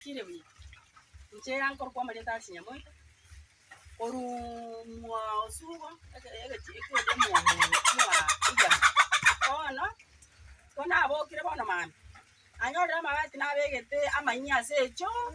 Tire buya. Inche nkorokwa amarieta ase Nyamoika, korumwa osugo eke egechiko ekeria omwongo oria bwa igana. Bono, ko nabokire bono mambia, nanyorire amabati nabegete amanyia ase echoo,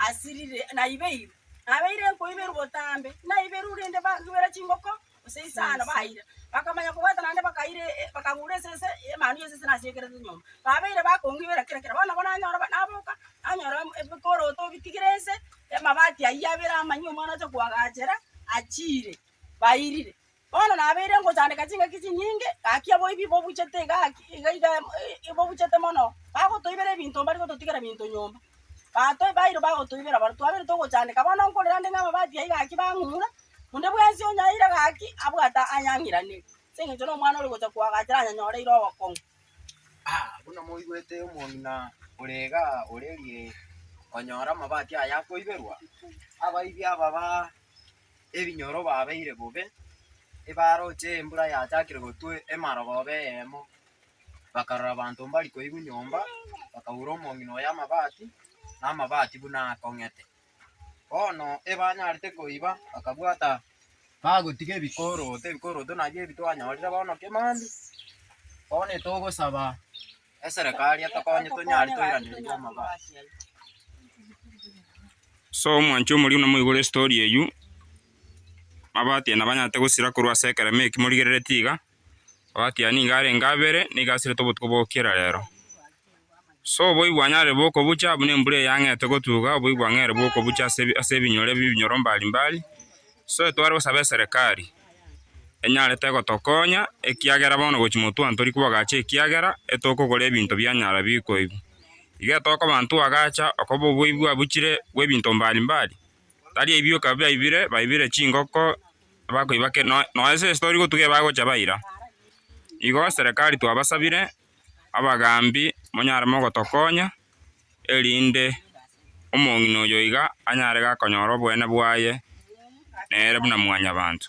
asirire, naibeire. Nabeire nkoiberwa botambe, naiberwa rende bankubera chingoko. Gose isano baeire, bakamanya kobwata naende bakaira, bakagura esese y'emanu y'esese nasekerete nyomba. Babeire bakongibera kera kera, bono nabo nanyora naboka nanyora ebikoroto bitigire nse, amabati ayio abere amanyia omwana oche koagachera achiire, bairire. Bono nabeire ngochandeka ching'aki chinyinge, gaki oboibi bobuchete iga gaki iga iga bobuchete mono, bagotoibera ebinto mbari gototigera ebinto nyomba. Bato baito bagotoibera barabwo twabere togochandeka. Bono nkorera nde ng'a amabati ayio gaki bang'umura, onde bwensi onyaire gaki abwate ayang'iranire, ase engencho na omwana ore gocha koagachera ayanyanyoreire obokong'u. Buna moigwete omong'ina ore iga orerie konyora amabati aya akoiberwa, abaibia aba ba ebinyoro babeire bobe, ebaroche embura yachakire gotwa emarogoba eyemo. bakarora abanto mbari koigwa nyomba, bakaura omong'ina oye amabati, na amabati buna akong'ete. Bono ebanyarete koiba bakabwata bagotiga ebikoroto, ebikoroto nabio ebi twanyorire bono Kimandi. Bono etogosaba eserekari etokonye tonyare toiraneria amabati. So omwanchi omoriu namoigure story eyio, amabati aya nabanyarete gosira korwa ase ekeremo eki morigereretie iga. Oatiani nigo arenge abere, nigo asirete obotuko bwa gokira rero. So oboigo bwanyarire bw'okobucha, buna embura eyang'ete gotuga, oboigo bwang'eire bw'okobucha ase ebi- ase ebinyore bi- ebinyoro mbari mbari. So etware gosaba eserekari, enyarete gotokonya, ekiagera bono gochi motwani tori kobagacha ekiagera, etokogora ebinto bianyara bikoigwa. Iga etokoba ntwagacha, okoba oboigo abuchire bw'ebinto mbari mbari, Taria ebioka biaibire, baibire chingoko bakoiba kere no- nonya ase estori gotuga ebagocha baira. Igo serikali twabasabire, abagambi monyare mogotokonya, erinde omong'ina oyo iga anyare gakonyora oboene bwaye nere buna mwanyabanto.